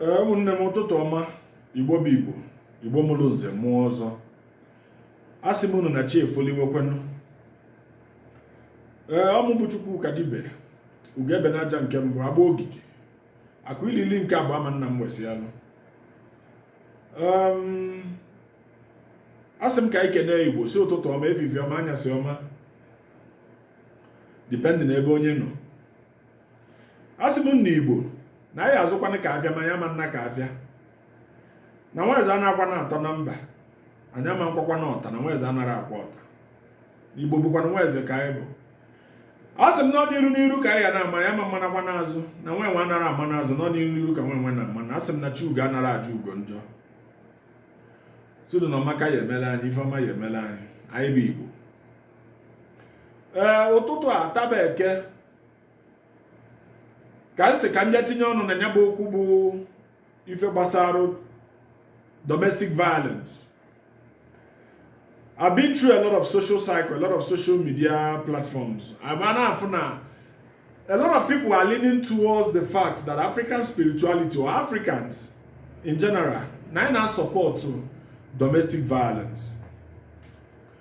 ee ụmụnne m ụtụtụ ọma igbo bụ igbo igbo mụrụ nze mụọ ọzọ a sị m unu na chi efoliwekwenụ ee ọ mụ bụ Chukwuka Dibe ugebe na aja nke mbụ agba ogidi akụ ilili nke abụọ ama nna m wesịalụ a sị m ka anyị kenee igbo si ụtụtụ ọma efifie ọma anyasị ọma dipendị na ebe onye nọ a sị m na igbo na anyị azụkwana ka afịa ma anyị ama nna ka afịa na nwaeze anaghịkwa na atọ na mba anyị ama nkwakwa na ọta na nwaeze anara akwa ọta igbo bụkwanụ nwaeze ka anyị bụ a sị m na ọ n'iru n'iru ka anyị ga na-ama anyị ama mmanakwa n'azụ na nwa enwe anara ama n'azụ na ọ n'iru n'iru ka nwa enwe na ama na a sị m na chi ugo anara ajọ ugo njọ sọ udo na ọma ka ya emelụ anyị ife ọma ya emelụ anyị anyị bụ igbo ee ụtụtụ a taa bụ eke ka m si ka m bịa tinye ọnụ na ya bụ okwu bụ ife gbasarụ domestic violence I've been through a lot of social circle, a lot of social media platforms. and m na-afụ na a lot of people are leaning towards the fact that African spirituality or Africans in general, na anyị na-asupport domestic violence.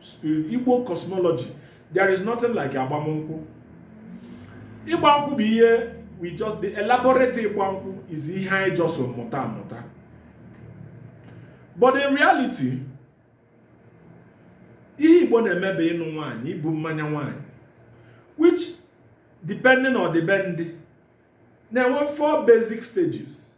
spirit igbo cosmology there is nothing like agbamnkwụ ịgba nkwụ bụ ihe e just elaborate ịgba nkwụ is ihe anyị just mụta amụta but in reality ihe igbo na-eme bụ ịnụ nwaanyị ibu mmanya nwaanyị which depending na ọdịbendị na-enwe four basic stages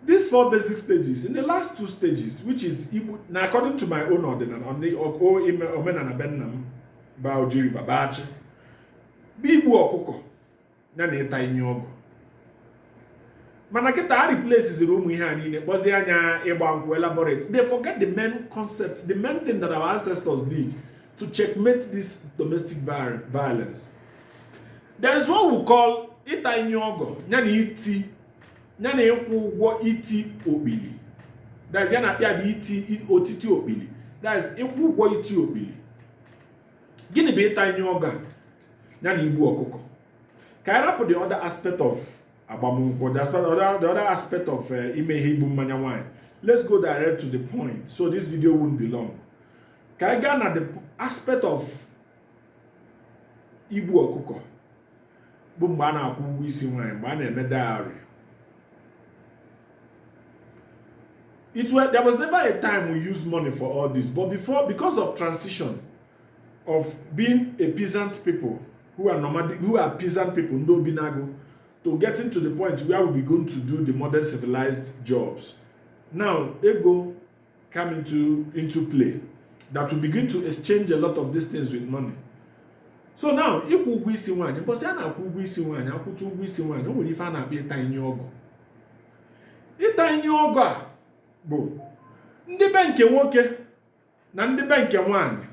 these four basic stages in the last two stages which is now according to my own ọdịnana omenana be nna m bụ Oji River bụ Achi bụ igbu ọkụkọ nya na ịta inye ọgọ mana kịta a replaceziri ụmụ ihe a niine kpọzie nya ịgba nkwụ elaborate they forget the main concept the main thing that our ancestors did to checkmate this domestic violence there is what we call ịta inye ọgọ nya na iti nya na ịkwụ ụgwọ iti okpili that is ihe a na-akpọ ya bụ iti o iti okpili that is ịkwụ ụgwọ iti okpili gịnị bụ ịta inye ọgọ nya na igbu ọkụkọ ka anyị rapụ the other aspect of agbamnkwụ the aspect the other aspect of eh, ime ihe ibu mmanya nwanyị let's go direct to the point so this video won't be long ka anyị gaa na the aspect of igbu ọkụkọ bụ mgbe a na-akwụ ụgwọ isi nwaanyị mgbe a na-eme dowry it was there was never a time we used money for all this but before because of transition of being a peasant people who are nomadic who are peasant people ndị obi n'agụ to getting to the point where we begin to do the modern civilized jobs now ego come into, into play that we begin to exchange a lot of these things with money. so now ịkwụ ụgwọ isi nwaanyị mbọsị a na-akwụ ụgwọ isi nwaanyị a kwụcha ụgwọ isi nwaanyị o nwere ife a na-akpọ ịta inyi ọgọ ịta inyi ọgọ a bụ ndị be nke nwoke na ndị be nke nwaanyị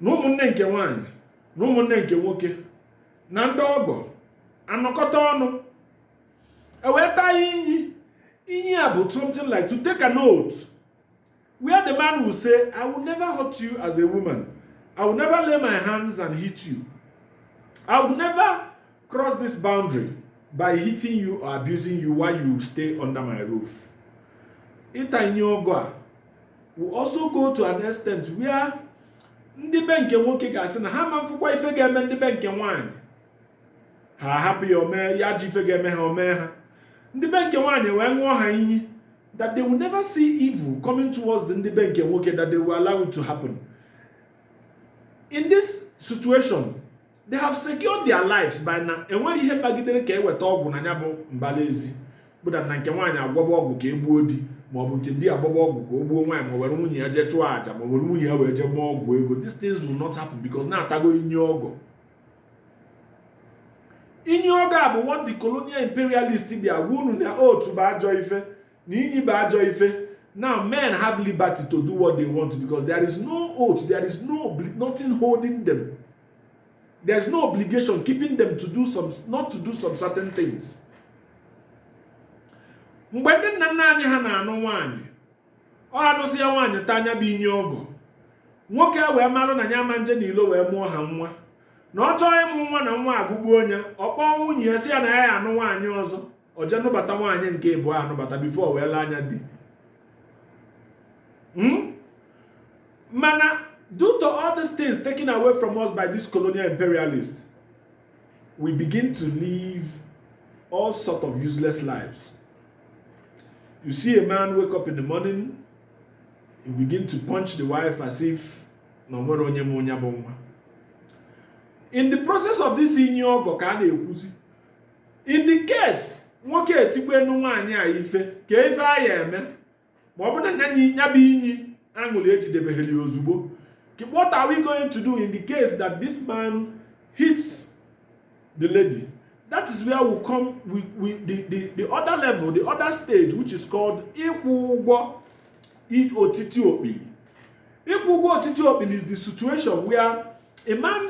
na ụmụnne nke nwaanyị na ụmụnne nke nwoke na ndị ọgọ anọkọta ọnụ e wee taa ya inyi inyi a bụ something like to take an oath where the man will say i will never hurt you as a woman i will never lay my hands and hit you i will never cross this boundary by hitting you or abusing you while you stay under my roof ịta inyi ọgọ a will also go to an extent where ndị be nke nwoke ga-asị na ha ma mfụkwa ife ga-eme ndị be nke nwaanyị ha ahapụ ya o mee ya ji ife ga-eme ha o mee ha ndị be nke nwaanyị wee ṅụọ ha inyi that they will never see evil coming towards the ndị be nke nwoke that they will allow it to happen in this situation they have secured their lives by na enwere ihe kpagidere ka e weta ọgwụ na ya bụ mbala ezi bụ na nke nwaanyị agwọba ọgwụ ka e gbuo di maọbụ nke di agwọba ọgwụ ka o gbuo nwaanyị ma were nwunye ya jee chụọ aja ma were nwunye ya wee jee gwọọ ọgwụ ego these things will not happen because na a tago inyi ọgọ inyi ọgọ a bụ what the colonial imperialist bịa gwa unu na oath bụ ajọ ife na inyi bụ ajọ ife now men have liberty to do what they want because there is no oath there is no nothing holding them there is no obligation keeping them to do some not to do some certain things mgbe ndị nna nna anyị ha na-anụ nwaanyị ọ nụsịa nwaanyị taa nya bụ inyi ọgọ nwoke ewee marụ na ya ama nje na ilo wee mụọ ha nwa na ọ chọọ ịmụ nwa na nwa agụgbuo nya ọ kpọọ nwunye ya sị ya na ya ya-anụ nwaanyị ọzọ ọ jee nụbata nwaanyị nke ịbụọ anụbata before wee lee anya di hmm? mana due to all these things taken away from us by this colonial imperialist we begin to live all sort of useless lives. You see a man wake up in the morning, he begin to punch the wife as if na o nwerọ onye mụ nya bụ nwa. In the process of this inyi ọgọ ka a na-ekwuzi. In the case nwoke etikwenu nwaanyị a ife kee ife a ya-eme ma ọ bụ na ya bụ inyi a ṅụlị ejidebeghị ya ozugbo what are we going to do in the case that this man hits the lady that is where we come we, we, the, the, the other level the other stage which is called ịkwụ ụgwọ otiti okpili ịkwụ ụgwọ otiti okpili is the situation where a man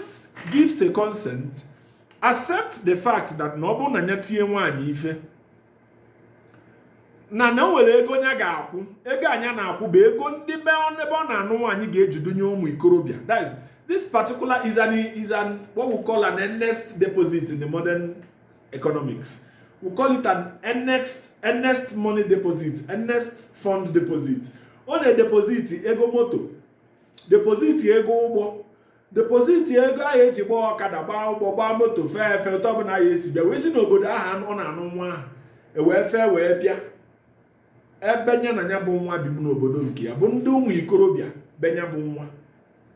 gives a consent accept the fact that na ọ bụrụ na ya tie nwaanyị ife na na o nwere ego nya ga-akwụ ego a nya na-akwụ bụ ego ndị be ebe ọ na-anụ nwaanyị ga-eji dunye ụmụ ikorobịa that is this particular is an is an what we call an earnest deposit in the modern economics we call it an earnest earnest money deposit earnest fund deposit ọ na-edepoziti ego moto depoziti ego ụgbọ depoziti ego ahụ eji gbaa ọkada gbaa ụgbọ gbaa moto fee efe ụzọ ọbụla ya esi bịa wee si n'obodo ahụ ọ na-anụ nwa ahụ wee fee wee bịa ebe nya na ya bụ nwa bibu n'obodo nke ya bụ ndị ụmụ ikorobịa be nya bụ nwa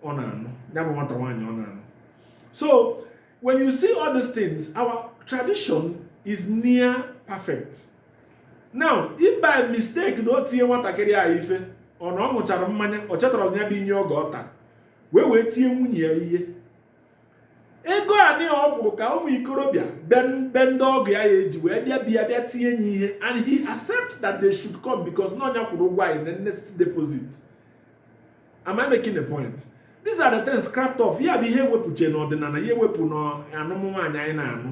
ọ na-anụ ya bụ nwata nwaanyị ọ na-anụ so when you see all these things our tradition is near perfect now if by mistake na o tie nwatakịrị a ife ọ na ọ ṅụchara mmanya o chetara ya bụ inye ọgọ ọ tara wee wee tie nwunye ya ihe ego anị ọ kwụrụ ka ụmụ ikorobịa be ndị ọgọ ya ya-eji wee bịa bịa bịa tie nya ihe and he accepts that they should come because na ọ nya kwụrụ ụgwọ ya in earnest deposit am I making a point these are the things scrapped off ya bụ ihe e wepụche n'ọdịnala ya ewepụ n'anụmụ nwaanyị anyị na-anụ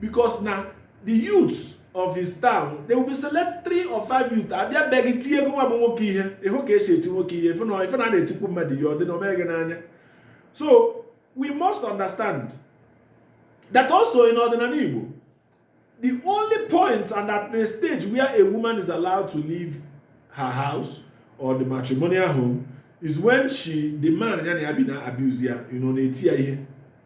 because na the youths of his town they will be select three or five youth abịa be gị tie gịnwa bụ nwoke ihe ị hụ ka e si eti nwoke ihe ife na ife na a na-etikwu mmadụ ihe ọ dị na omee gị n'anya so we must understand that also in ọdịnala Igbo the only point and at the stage where a woman is allowed to leave her house or the matrimonial home is when she the man ya na ya bi na-abuse ya you know na-eti ya ihe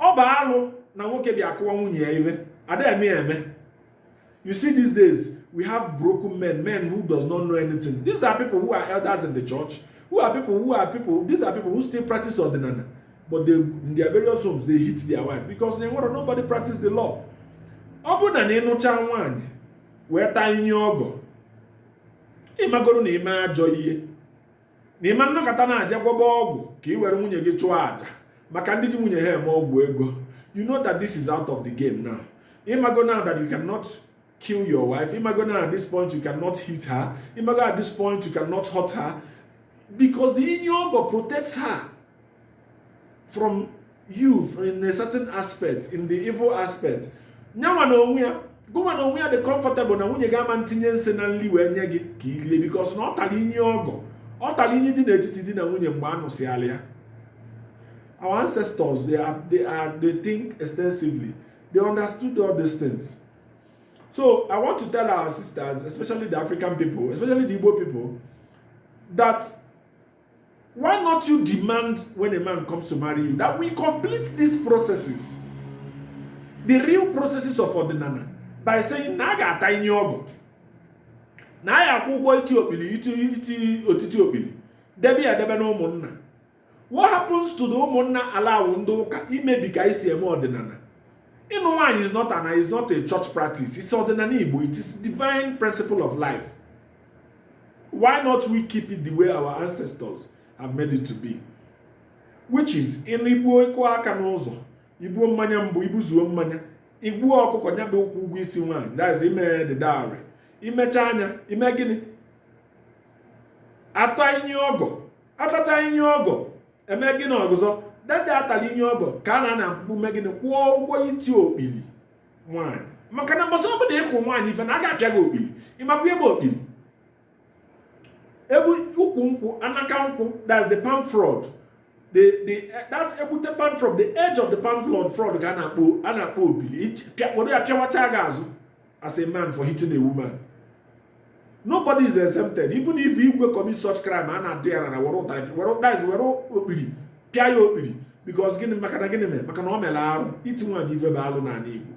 ọ bụ alụ na nwoke bịa akụwa nwunye ya ihe a da eme ya eme you see these days we have broken men men who does not know anything these are people who are elders in the church who are people who are people these are people who still practice ọdịnala but in their various homes they hit their wife because they want nobody practice the law ọ bụrụ na ị nụcha nwaanyị wee taa inye ọgọ ị magoro na i me ajọ ihe na ị ma nọkata na-aja gwọba ọgwụ ka i were nwunye gị chụọ aja maka ndị ji nwunye ha eme ọgwụ ego you know that this is out of the game now ị mago now that you cannot kill your wife ị mago now at this point you cannot hit her ị mago at this point you cannot hurt her because the inye ọgọ protects her from you in a certain aspect in the evil aspect nyanwa na onwe ya gụnwa na onwe ya dị comfortable na nwunye gị ama ntinye nsị na nli wee nye gị ka i lie because na ọ tali inye ọgọ ọ tali inye dị n'etiti di na nwunye mgbe a nụsịala ya our ancestors they are, they are they think extensively they understood all these things so i want to tell our sisters especially the african people especially the igbo people that Why not you demand when a man comes to marry you that we complete these processes, the real processes of ọdịnana, by saying na a ga-ata inye ọgọ na a ya akwụ ụgwọ iti okpili iti otiti okpili debe ya edebe na ụmụnna what happens to the ụmụnna allow ndị ụka imebi ka esi eme ọdịnana ịnụ nwaanyị is not an is not a church practice it's ọdịnana Igbo it is divine principle of life Why not we keep it the way our ancestors have made it to be? Which is na ibuo ịkụ aka n'ụzọ ibuo mmanya mbụ ibuzuo mmanya igbuo ọkụkọ nya bụ ịkwụ ụgwọ isi nwaanyị that's ime the dowry imecha nya ime gịnị ata inye ọgọ atacha inye ọgọ eme gịnị ọgụzọ dede atala inye ọgọ ka a na-ana mkpukpu mee gịnị kwụọ ụgwọ iti okpili nwaanyị maka na mbọsị ọbụla ịkụ nwaanyị ife na a ga-apịa gị okpili ịmakwa ihe bụ okpili ọ bụ ukwu nkwụ anaka nkwụ that's the palm frond the the that egbute palm frond the edge of the palm frond frond ka a na-akpọ a na-akpọ okpili were ya pịawacha gị azụ as a man for hitting a woman nobody is exempted even if igwe commit such crime a na-adị ya rara were ụtarị were ụtarị were okpiri pịa ya okpiri because gịnị maka na gịnị mere maka na o mere arụ iti nwaanyị ife bụ alụ n'ala Igbo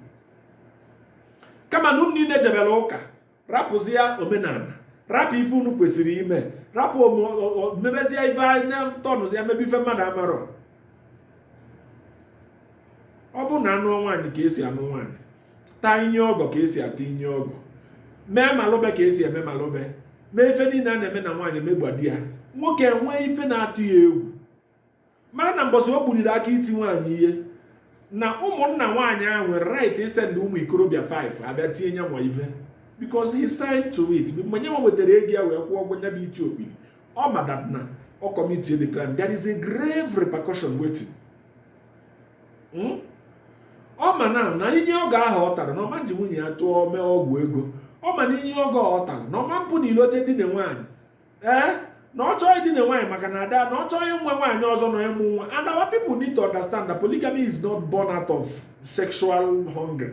kama na unu niile jebere ụka rapụzia omenana rapụ ife unu kwesịrị ime rapụ mebezie ife anya tọnụzi ya mebe ife mmadụ amarọ ọ bụ na anụọ nwaanyị ka esi anụ nwaanyị taa inye ọgọ ka esi ata inye ọgọ mee malụbe ka esi eme malụbe mee ife niile a na-eme na nwaanyị megba di ya nwoke enwee ife na-atụ ya egwu mara na mbọsị o buliri aka iti nwaanyị ihe na ụmụnna nwaanyị ahụ nwere right isend ụmụ ikorobịa 5 abịa tie nyanwa ife because he signed to it mgbe nyanwa wetara ego ya wee kwụọ ụgwọ nya bụ iti okpiri ọ ma that na ọ commit the crime there is a grave repercussion waiting hmm? ọ ma na na inye ọgọ ahụ ọ tara na ọ ma nji nwunye ya tụọ mee ọgwụ ego ọ ma na inye ọgọ ọ tara na ọ ma mpụ na ilo je dine nwaanyị ee na ọ chọọ idine nwaanyị maka na ada na ọ chọọ inwe nwaanyị ọzọ na ịmụ nwa and our people need to understand that polygamy is not born out of sexual hunger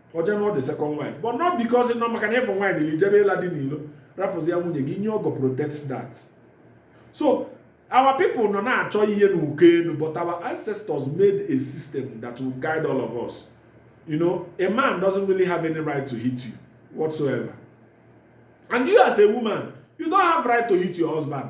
o jee nụọ the second wife but not because ị nọ maka na ịfụ nwaanyị dịrị jebe ịla dị n'ilo rapụzi ya nwunye gị inye ọgọ protects that so our people nọ na-achọ ihe n'uko enu but our ancestors made a system that will guide all of us you know a man doesn't really have any right to hit you whatsoever and you as a woman you don't have right to hit your husband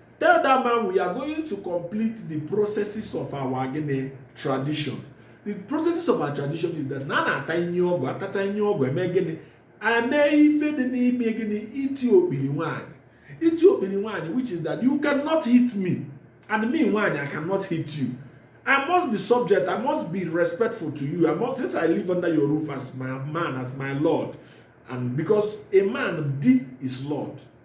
Tell that man we are going to complete the processes of our gịnị tradition. The processes of our tradition is that na a na-ata inye ọgọ a tachaa inye ọgọ e mee gịnị e mee ife dị n'ime gịnị iti okpili nwaanyị iti okpili nwaanyị which is that you cannot hit me and me nwaanyị I cannot hit you. I must be subject. I must be respectful to you. Since I live under your roof as my man, as my Lord, and because a man, di is Lord.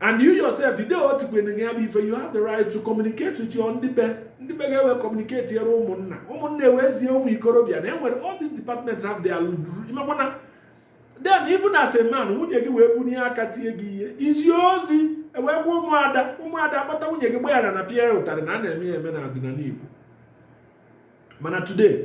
and you yourself the day o tikwere gị ya bụ ife you have the right to communicate with your ndị be gị ndị be gị ewee communicate yere ụmụnna ụmụnna ewezie ụmụ ikorobịa na enwere all these departments have their imekwana then even as a man nwunye gị wee bunie aka tie gị ihe i zie ozi ewee gwa ụmụada ụmụada akpọta nwunye gị gbaghara na pịa ya ụtarị na a na-eme ya eme na ọdịnala Igbo mana today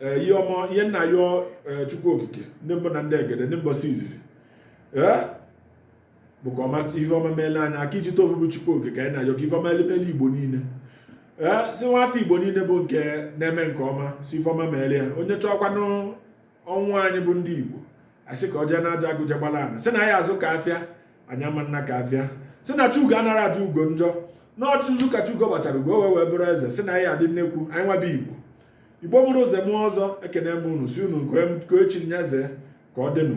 ee ihe ọma ihe m na-ayọ ee chukwu okike ndị mbụ na ndị egede ndị mbọsị izizi ee bụ ka ọma ihe ọma meele anyị aka iji tofu bụ chukwu okike anyị na-ayọ ka ife ọma elimele igbo niile ee sị nwa afọ igbo niile bụ nke na-eme nke ọma sị ife ọma meele ya onye chọọkwanụ ọnwụ anyị bụ ndị igbo asị ka ọ jee n'aja agụje gbala ana sị na anyị azụ ka afịa anyị ama nna ka afịa sị na chi ugo anara ajọ ugo njọ na ọchụzụ ka chi ugo gbachara ugo wee wee bụrụ eze sị na anyị adị nnekwu anyị nwa bụ igbo igbo mụrụ nze mụọ ọzọ ekene m unu sị unu nke echi nye eze ka ọ dịnụ